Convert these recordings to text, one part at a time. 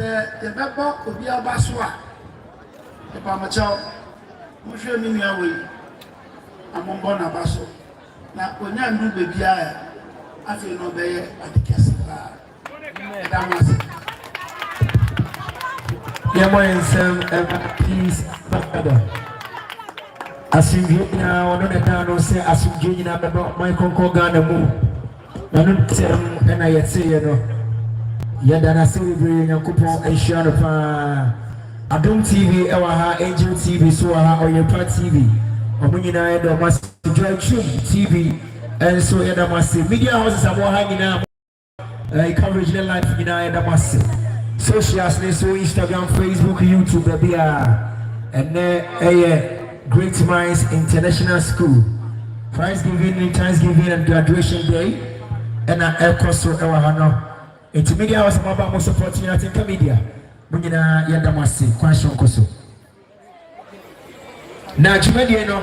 Sɛ yɛbɛbɔ obi aba so a, mepamokyɛw, monhwɛ me nua wei na mombɔ no aba so, na onya nnuru baabi a afei na ɔbɛyɛ ade kɛse paa. Ɛda mo ase. Yɛmmɔ yɛn nsɛm ɛma peace babada. Asomdwe nyinaa ɔno na ɛda no sɛ asomdwe nyinaa bɛbɔ ɔman kɔnkɔn Ghana mu. Ɛno ntam na yɛteeɛ no. Yɛda no ase bebree. Nyankopɔn nhyira no paa. Adom TV wɔ ha, Angel TV so wɔ ha, Ɔyɛpa TV. Ɔmo nyinaa yɛda ɔmo ase. Joy Tube TV nso yɛda mo ase. Media houses a mo wɔ ha nyinaa mo ɛɛ coverage ne life nyinaa yɛda mo ase. Socials ne so Instagram, Facebook, YouTube baabi a ɛnɛ ɛyɛ. Great Minds International School Christ Giving ne Thanksgiving and Graduation Day ɛna ɛkɔ so ɛwɔ ha no nti media hɔ sɛ mo aba mo support yɛn atenka media mo nyinaa yɛn da mo ase kwan soronko so na dwumadie no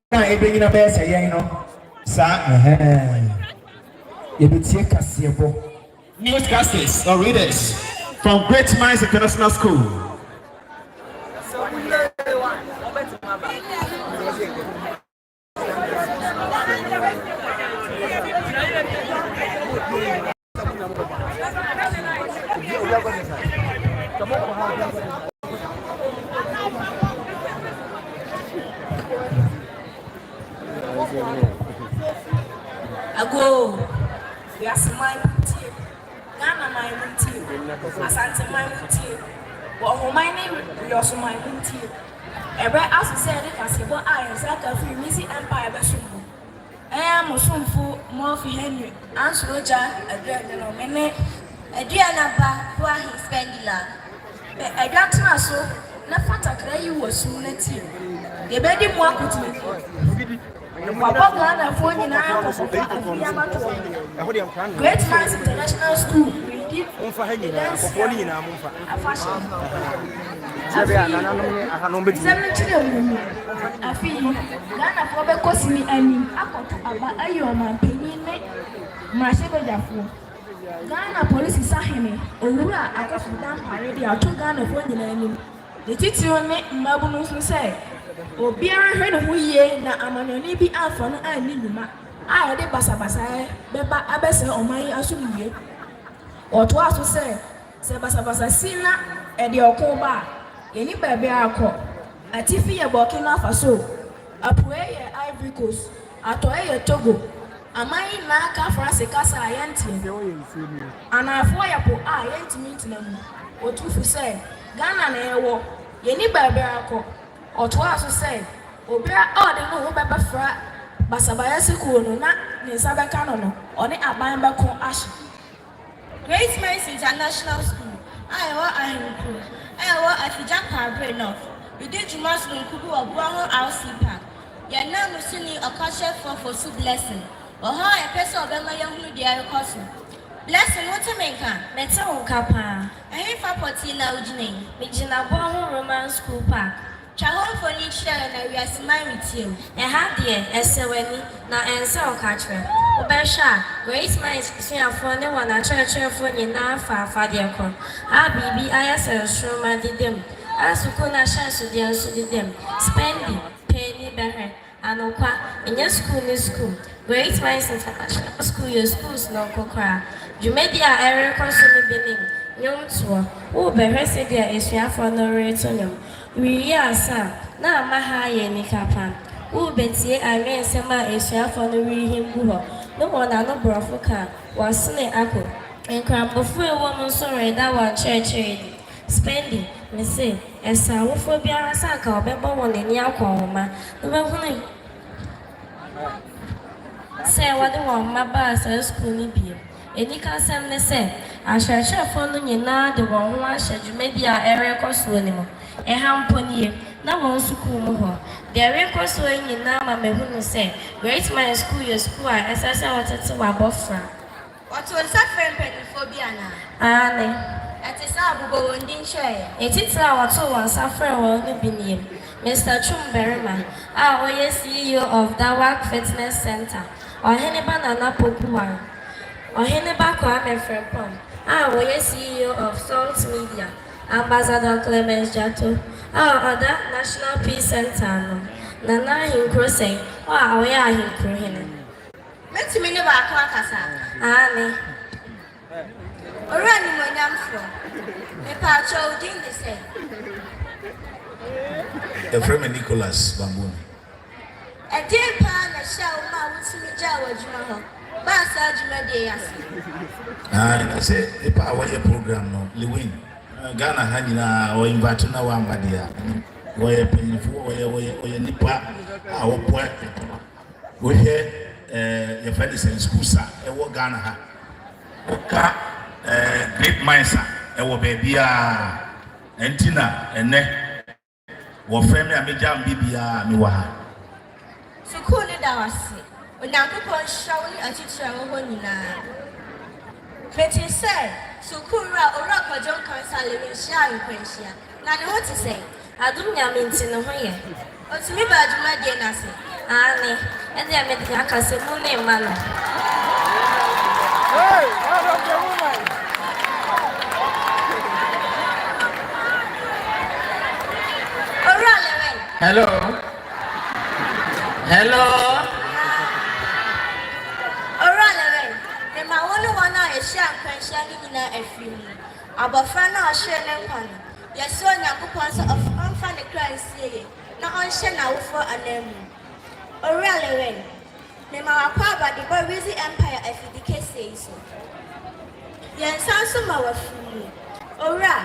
Na ɛbɛnyina bɛyɛ sɛ yɛn no saa ɛhɛɛn. Yɛbɛtie kaseɛbɔ. Newscasters or readers from Great Minds International School. Ago, wiase man no tie, Ghana man no tie, Asante man no tie, Bɔhoman ne Wiɔso man no tie. Ɛbɛ aso sɛ yɛde kaseɛbɔ a yɛn nsa aka firi Meiji Empire bɛsom mu. Ɛɛ, mo somfo Murphy Henry ansɔre gya aduane no, me ne Aduana ba Boahe Spengila de adwa tena so na fa takra yi wɔ sum na tie. Yɛbɛdi mu akotenini. Yɛkɔbɔ Ghanafoɔ nyinaa kɔkɔ fa Afuiɛ abatoɔ no. Great Minds International School redi adansie ahoroɔ. afahyɛ no. Sɛdeɛ anananom ne ahanom bɛtumi. Nsɛm no kyerɛ mu ni. Afe yi, Ghanafoɔ bɛkɔ sini anim akɔto aba ayi ɔmanpanin ne mmarahyɛbadwafoɔ. Ghana Polisi Sahene Owura Akuffo Dampare de ato Ghanafoɔ nyinaa anim, ne titiriw ne mmabunu so sɛ obiara nhwɛ ne ho yie na amanyɔne bi amfa no anni nnwuma a ɛde basabasayɛ bɛba abɛsɛe ɔman yi asomdwoeɛ. Ɔtoaa so sɛ. Sɛ basabasa si na ɛde ɔko ba a, yenni baabi akɔ. Atifi yɛ Burkina Faso, apuei yɛ Ivory Coast, atɔe yɛ Togo. Aman yi nyinaa ka Franse kasa a yɛnte. Anaafoɔ yɛ po a yɛntumi ntena mu. Ɔtumfo sɛ, Ghana na yɛwɔ. Yenni baabi akɔ. Ɔtoaa so sɛ, Obiara a ɔde ne ho bɛbɛfra basabayɛsekuo no na ne nsa bɛka no no, ɔne aban bɛko ahye. Great Minds International School a ɛwɔ Ahenkurow a ɛwɔ Afigya Kwabre North redi dwuma sononko bi wɔ Boa Ho RC Park. Yɛn nanmusini ɔkakyerɛfoɔ Fosu Blessing wɔ hɔ a yɛpɛ sɛ ɔbɛma yɛahunu deɛ ɛrekɔ so. Blessing, wote me nka? Mete wo nka pa ara. Ɛhefa pɔtee na wogyina yi? Megyina Boa Ho Roman School Park. Twa hɔ mfoni kyerɛ yɛn na wiase man retie wo. Ɛha deɛ ɛsɛ w'ani na ɛnsɛ wo kakyerɛ. Wobɛhwɛ a, Grace Minds asuafoɔ ne wɔn akyerɛkyerɛfoɔ nyinaa fa afadeɛ korɔ a biribi ayɛ sɛ nsoromma deda mu a sukuu no ahyɛnsodeɛ nso deda mu. Spendi, Paani, bɛhwɛ. Anokwa, nnyɛ skuul nye skuul. Great Minds International School yɛ skuul sononko koraa. Dwumadzi a ɛrokɔ so no bi nye ndwomtoɔ. Worebɛhwɛ sɛdeɛ asuafoɔ no reto ndwom. Worewie asa a, na ama ha ayɛ anika pa. Worebɛtie anwensɛm a asuafoɔ no rehim gu hɔ no wɔn ano borɔfo ka a, wɔasene akɔ. Nkrabofo a ɛwɔ mu nso reda wɔn nkyerɛkyerɛ adi. Spendi, Mise, ɛsɛ awofoɔ biara sɛ anka wɔbɛbɔ wɔn ani akɔ wɔn mma no bɛhunu sɛ wɔde wɔn mma baa saa sukuu no bio. Anikasɛm ne sɛ, akyerɛkyerɛfoɔ no nyinaa de wɔn ho ahyɛ dwumadie a ɛrekɔ soɔ no mu. Ɛha mpo nie, na wɔn sukuu mu hɔ. Deɛ ɛrekɔ soɔ yi nyinaa ma mahunu sɛ Great Minds Sukuu yɛ sukuu a ɛsɛ sɛ wotete w'abɔfra. Wɔtoo nsa frɛɛ mpanimfoɔ bi anaa? Aane. Ɛte saa a, bobɔ wɔn din kyerɛ yɛn. Ne titire a wɔtoo wɔn nsa frɛɛ wɔn no bi nie, Mister Twum Barima a ɔyɛ CEO of Dawak Fitness Centre, Ɔheneba Nana Pokuah, Ɔheneba Kwame Frimpong a ɔyɛ CEO of Salt Media, Ambassador Clemence Gyarto a ɔda National Peace Centre ano, Nana Ahenkuro Sɛn a ɔyɛ Ahenkuro Hene. Mɛtumi ne baako akasa? Aane. Owura Nimuonyamfoɔ, mepaakyɛw wo din de sɛn? Yɛfrɛ me Nicholas Bamboni. Ɛdeɛn paa na ɛhyɛɛ wo maa wotumi gyaa w'adwuma hɔ baa saa dwumadie yi ase? Aane, na sɛ nipa a wɔyɛ program no, Lewin, Ghana ha nyinaa ɔ invite no na wamma deɛ a, menim. Ɔyɛ panyinfoɔ, ɔyɛ, ɔyɛ, ɔyɛ nipa a ɔboa. Wohwɛ eh, yɛfrɛ ne sɛn schools a ɛwɔ Ghana ha. Woka eh, grape mines a ɛwɔ baabiaa. Ɛnti na ɛnɛ wɔfrɛ me a megya m bibiaa mewɔ ha. Sukuu no da wase. Onyankopɔn nhyira wo ne atitire a ɛwɔ hɔ nyinaa. Metee sɛ sukuuwura Owura Kwadwo Nkansah Lewin hyiaa nkwanhyia. Na ne ho te sɛn? Adom Nyame nti ne ho yɛ. Ɔtumi baa dwumadie no ase? Aane. Ɛnneɛ me de aka sɛ mu ne mma no. Owura Lewin. Hello. Hello. Owura Lewin, mema wo ne wɔn a ɛhyia nkwanhyia no nyinaa afiri mu. Abɔfra no a ɔhweree ne nkwa no, yɛsrɛ Onyankopɔn sɛ ɔmfa ne kra nsie yie na ɔnhyɛ n'awofoɔ ananmu. Owura Lewin, mema w'akwaaba de bɔ Rizzi Empire afidi kɛseɛ yi so. Yɛn nsa nso ma w'afiri yi. Owura,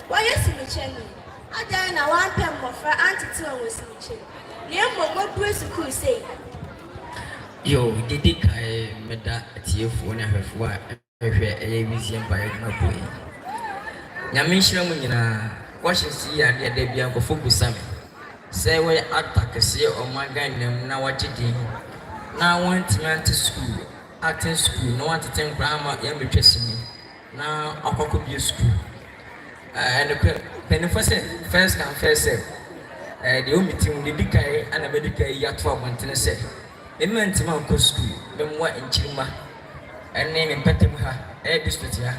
woayɛ simikyɛni, adɛn na woampɛ mmɔfra antete wɔn wɔ simikyɛ mu, na mmom woabue sukuu sei? Yo, didi kan, meda atiefoɔ ne ahwɛfoɔ a. Hwɛ, ɛyɛ wisie mpaeɛ adwuma po yi. Nyame nhyira mo nyinaa. Questions yi yɛ adeɛ a da biara nkorɔfoɔ bisa me. Sɛ wɔyɛ actor kɛseɛ wɔ ɔman Ghana mu na wɔagye din na wɔantumi ante sukuu, acting sukuu, na wɔantete nkwadaa amma yɛammɛtwa sini na wɔakɔ akɔbue sukuu a, ɛyɛ nokorɛ mpanimfoɔ sɛ first come first serve. Ɛyɛ deɛ ɛwɔ me tirim, deɛ ɛdi kan na mɛdi kan ayi ato abɔntene sɛ, me mantumi ankɔ sukuu, me mmoa nkyiri mma. ɛne me mpɛtam ha, ɛyɛ district ha,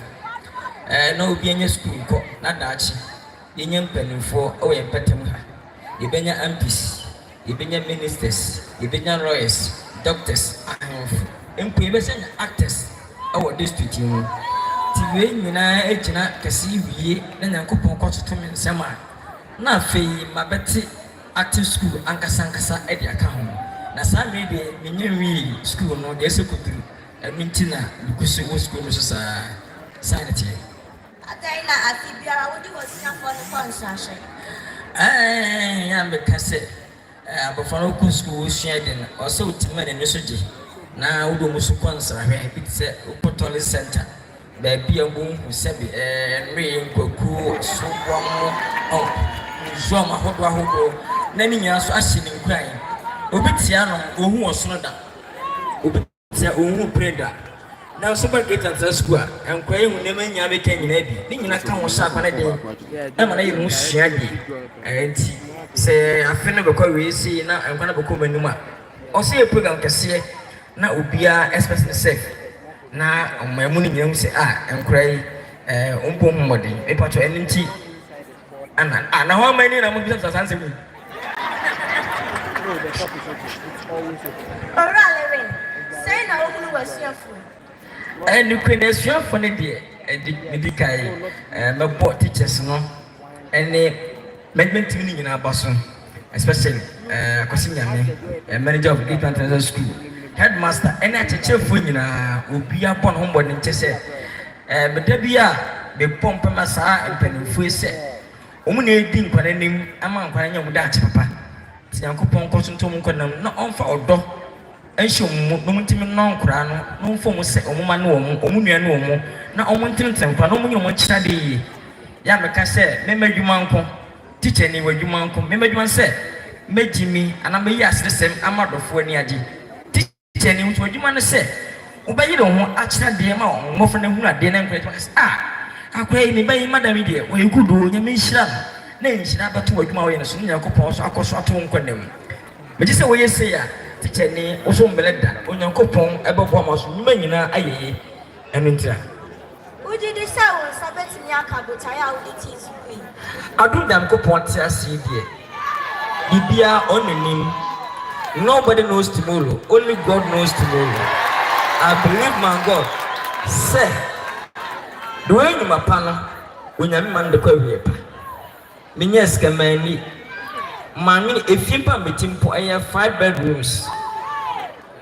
ɛɛ na obi anya sukuu nkɔ na daakye yɛnya mpanimfoɔ wɔ yɛn mpɛtam ha, yɛbɛnya MPs, yɛbɛnya ministers, yɛbɛnya lawyers, doctors, ahemfo, mpo yɛbɛsɛ nya actors wɔ district yi mu. Nti wei nyinaa gyina kɛse wie na Nyankopɔn kɔtoto me nsam a, na afei mabɛte Active School ankasankasa de aka ho. Na saa mmere yi deɛ, mennya nwiee sukuu no deɛ ɛsɛ kɔduru, ɛno nti na megu so wɔ sukuu no so saa. Saa na ɛteɛ. Adɛn na afe biara wode w'asuafoɔ no kɔ nsrahwɛ? Ɛɛ, yɛ a meka sɛ abɔfra no kɔ sukuu, ɔsua ade no, ɛwɔ sɛ ɔtumi ma n'ani so gye, na wode wɔn nso kɔ nsrahwɛ, bi te sɛ wokɔ Tourist Centre. Baabi a wonhu sɛbe nnoe, nkwakuo, asoboa mo, ɔp, nsuam ahodoɔ ahodoɔ, na ne nyinaa nso ahyɛ ne nkuran. Obi te ano, ɔnhu ɔsono da. Obi te a, ɔnhu bere da. Nanso ba Great Accra Sukuu a, nkwadaa yi hu nneɛma yi nyinaa meka nyinaa bi. Ne nyinaa ka ho hyɛ akwane den. Ɛma no yɛ ho sua de. Ɛnti sɛ afe no bɛkɔ awie sei na nkwadaa no bɛkɔ wɔn anim a, ɔsɛ yɛ program kɛseɛ na obiara expect ne sɛ. Na ɔmaa mu no nyinaa hu sɛ ah nkwadaa yi eh, ɔmpɔ ho mmɔden. Mepa kyɛ ɛno nti ana ah, na hɔ ama ani na mo bisa saa nsɛm yi. Owura Lewin, sɛn na wohunu w'asuafo? Eh, nokorɛ no asuafo no deɛ, ɛdi, medi kan eh, mɛbɔ teachers no. Ɛne management team no nyinaa ba so especially Akwasi Nyame, manager of Great Plains International School, headmaster ɛne akyerɛkyerɛfoɔ nyinaa obiara bɔ ne ho mmɔden kyɛ sɛ meda bi a mebɔ mpa ma saa mpanimfoɔ yi sɛ wɔn na ɛdi nkwadaa anim ama nkwadaa nya wɔn daakye papa nti Nyankopɔn nkɔ so nto wɔn nkwa nam na ɔmfa ɔdɔ nhyɛ wɔn mu, na wɔn ntimi nnɔ nkoraa no, na wɔn mfa wɔn sɛ wɔn mma ne wɔn, wɔn nua ne wɔn, na wɔn ntene tene nkoraa, na wɔn nyɛ wɔn akyiradeɛ yie. Yɛ a meka sɛ, Mema adwuma nko, tikyani, w'adwuma nko, mema adwuma no sɛ, megyimi, anaa meyi aseresɛm ama adɔfoɔ ani agye, tikyani, wo nso w'adwuma ne sɛ, wobɛyere wo ho akyerɛ adeɛ ma wɔn, mmɔfra no ahunu adeɛ, na nkoraa ntimi aka sɛ, Ah, akoraa yi, ne ba yi, madam yi deɛ, ɔyɛ good o, Nyame nhyira no, na nhyira abɛto w'adwuma a woyɛ no so, na Nyankopɔn nso akɔ so ato wo nkwa nna mu. Megye sɛ woyɛ sei a, tikyani, wo so mmrɛ da. Onyankopɔn bɛboa ma so nnwuma nyinaa ayɛ yie. Ɛno nti a. Wogye di sɛ wo nsa bɛtumi aka botaeɛ a wode tii sukuu yi? Adom Nyankopɔn te ase yi deɛ, biribiara ɔno na nim. Nobody knows tomorrow, only God knows tomorrow. I believe my God sɛ, deɛ ɔyɛ nnwuma pa no, Onyame ma no de kɔ awieɛ pa. Me nyaa sika manni. Maame efie mpo a mete mpo ɛyɛ five bedrooms.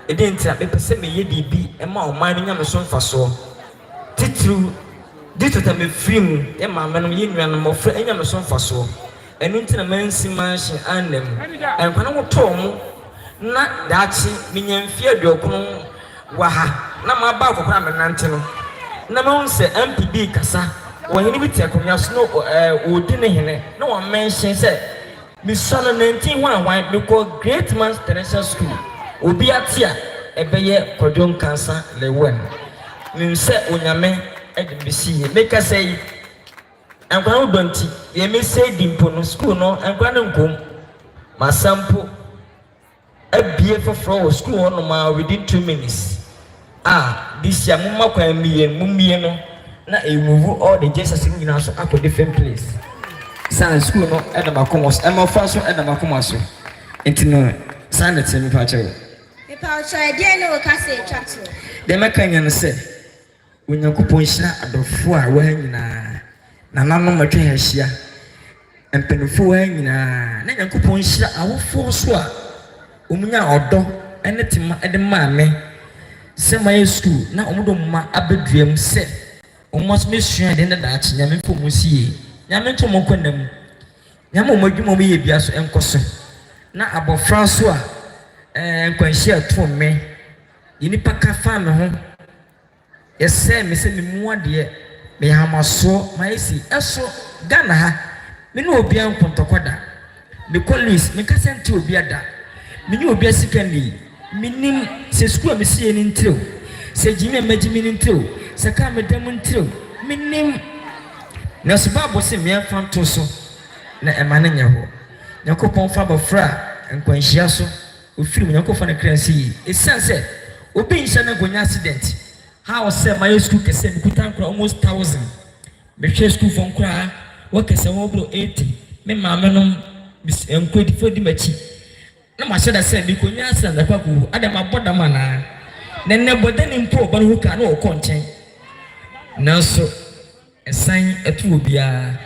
Ɛdeɛ nti a mepɛ sɛ meyɛ biribi ma ɔman no nya me so mfasoɔ. Titiriw district a mefiri mu yɛ maame nom yɛ nuanom mmɔfra nya me so mfasoɔ. Ɛno nti na mansi manhye anna mu. Nkwadaa no wotoo wɔn. na daakye menya mfeɛ aduokron wɔ ha na maba akɔkora a menante no na mahu sɛ MP bi rekasa, ɔhene bi te akonnwa so na ɔredi ne hene na wɔmenhyene sɛ mesua no nantin hwan hwan, mekɔɔ Great Man's Terrestrial School, obi ate a ɛbɛyɛ Kwadwo Nkansah Lewuen, mehu sɛ Onyame de me bɛsi yie, mekasa yi Nkwadaa ho dɔ nti, deɛ mesɛe di mpo no, sukuu no, nkwadaa no nkɔ mu. Masan mpo abue foforɔ wɔ sukuu hɔ nom ara within two minutes. Ah, this year momma kwan mmue no, mommue no na ɛnwuwu all the JSS no nyinaa so akɔ different place. Saa na sukuu no ɛda m'akoma so, mmɔfra nso ɛda m'akoma so. Nti no, saa na ɛteɛ mepa kyɛw. Mepawkyɛw ɛdeɛn ne wo kasa ɛtwa toɔ? Deɛ mɛka nyina ne sɛ. Onyankopɔn nhyira adɔfoɔ a wɔha nyinaa, nananom atwa ha ahyia, mpaninfoɔ ha nyinaa, na Nyankopɔn nhyira awofoɔ nso a wɔn nyaa ɔdɔ ne tema de maa me sɛ mayɛ sukuu na wɔn de wɔn mma aba dua mu sɛ wɔn mma nso mɛsua adeɛ na daakye Nyame mfa wɔn nsi yie. Nyame nto wɔn nkwa nna mu. Nyame wɔn adwuma wɔn yɛ bia so nkɔ so na abɔfra nso a ɛɛ nkwanhyia to mme. Deɛ nnipa ka fa me ho Yɛsɛɛ me sɛ me mu adeɛ Meyɛ ahamasoɔ mayɛ sei Ɛso Ghana ha Me ne obiara nkɔntɔkwa da Mekɔ Louis menkasa ntia obiara da Menyɛ obiara sika nni Mennim sɛ sukuu a mesiiɛ no ntire o Sɛ gyimi a magyimi no ntire o Sɛ kaa a meda mu ntire o Mennim Nanso Bible se mmea mfa nto so Na ɛma no nyɛ hɔ Nyankopɔn fa abɔfra a nkwanhyia so Ofiri mu Nyanko fa ne kra si yie esiane sɛ obi nhyɛ na nka onya accident how sɛ mayɛ sukuu kɛsɛ me kuta nkora almost thousand me hwɛ sukuu fɔ nkoraa wɔ kɛsɛ wɔ bro eighty me maame nom mis nkwadi fɔ di makyi na mahyɛ da sɛ me konya accident na ɛkɔ akɔwu adɛn mabɔ dam anaa na nnɛ bɔdani mpo ɔba no ho kaa na ɔkɔ nkyɛn nanso Ɛsan to obiara,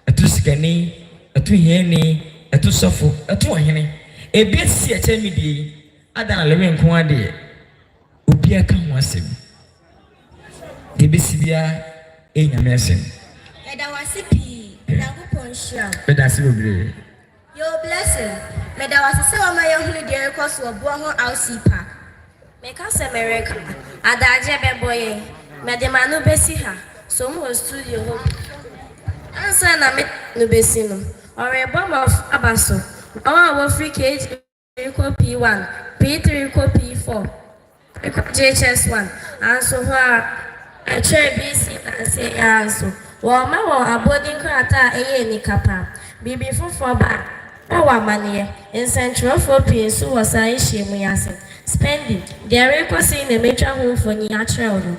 ɛto sikani, ɛto hiani, ɛto sɔfo, ɛto ɔhene. Ebi asi ɛkyɛn me deɛ yi, adɛn na Lewi nko ara deɛ, obiara ka ho asɛm? Deɛ ɛbɛsi biara yɛ Nyame asɛm. Yɛda wo ase pii. Nyankopɔn nhyira wo. Meda ase bebree. Yo Blessing, meda wo ase sɛ woama yɛahunu deɛ ɛrekɔ so wɔ boɔ ho RC Park. Meka sɛ mereka, adagyeɛ bɛbɔ yɛn, mede m'ano bɛsi ha, som wɔ studio hɔ bi. Ansa na mede m'ano bɛsi no, ɔrebɔ mmɔfra aba so, wɔn a wɔfiri KG. kɔ P-one, P-three kɔ P-four, bi kɔ JHS-one, nanso hɔ ara ɛkyerɛɛ BC nansa yi ara nso wɔremma wɔn abɔdi nkrataa a ɛyɛ anika paa. Biribi foforɔ ba a, na ɛwɔ amanneɛ. Nsɛntwerɛfoɔ pii nso wɔ saa nhyiamu yi ase. Spendi, deɛ ɛrekɔ sei na matwa ho mfonin akyerɛ wo no.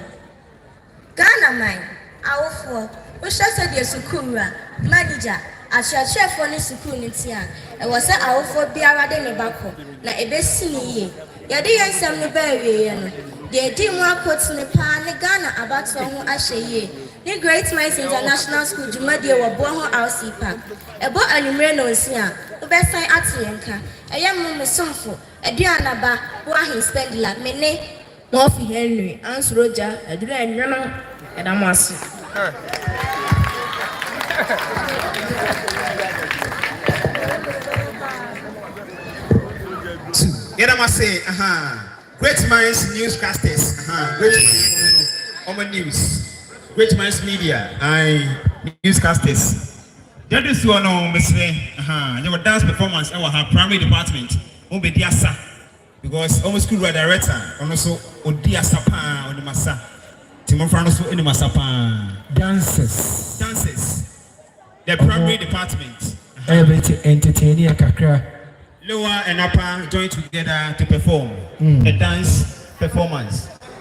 Ghanaman awofoɔ wohwɛ sɛdeɛ sukuuwura, manigya, akyerɛkyerɛfoɔ ne sukuu no teɛ a, ɛwɔ sɛ awofoɔ biara de ne ba kɔ na ɛbɛsi no yie. Yɛde yɛn nsɛm no ba awieeɛ no, deɛ ɛdii mu akotene pa ara ne Ghana abatoɔ ho ahwɛyie ne Great Minds International School dwumadie wɔ Boɔho RC Park. Ɛbɔ anwummere nnɔnsia. Mobɛsan ate yɛn nka. Ɛyɛ mo, mo somfo, Aduanaba Boahe Spendler, me ne. Murphy Henry ansuro gya aduru a ɛnwono na ɛda mo ase. Two, yɛda mo ase ahaa Great Minds News Casters ahaa Great Minds wɔn no wɔn news Great Minds Media ae News Casters Dɛde soɔ no mesrɛ ahaa yɛwɔ dance performance ɛwɔ ha Primary Department wɔn bɛdi asa Because ɔmo school wura director ɔno nso ɔdi asa paa ɔnim asa nti mmɔfra no nso nim asa paa. Dances. Dances the Ɔmo primary department. Aha. everything entertaineɛ kakra. Lower and upper join together to perform a dance performance.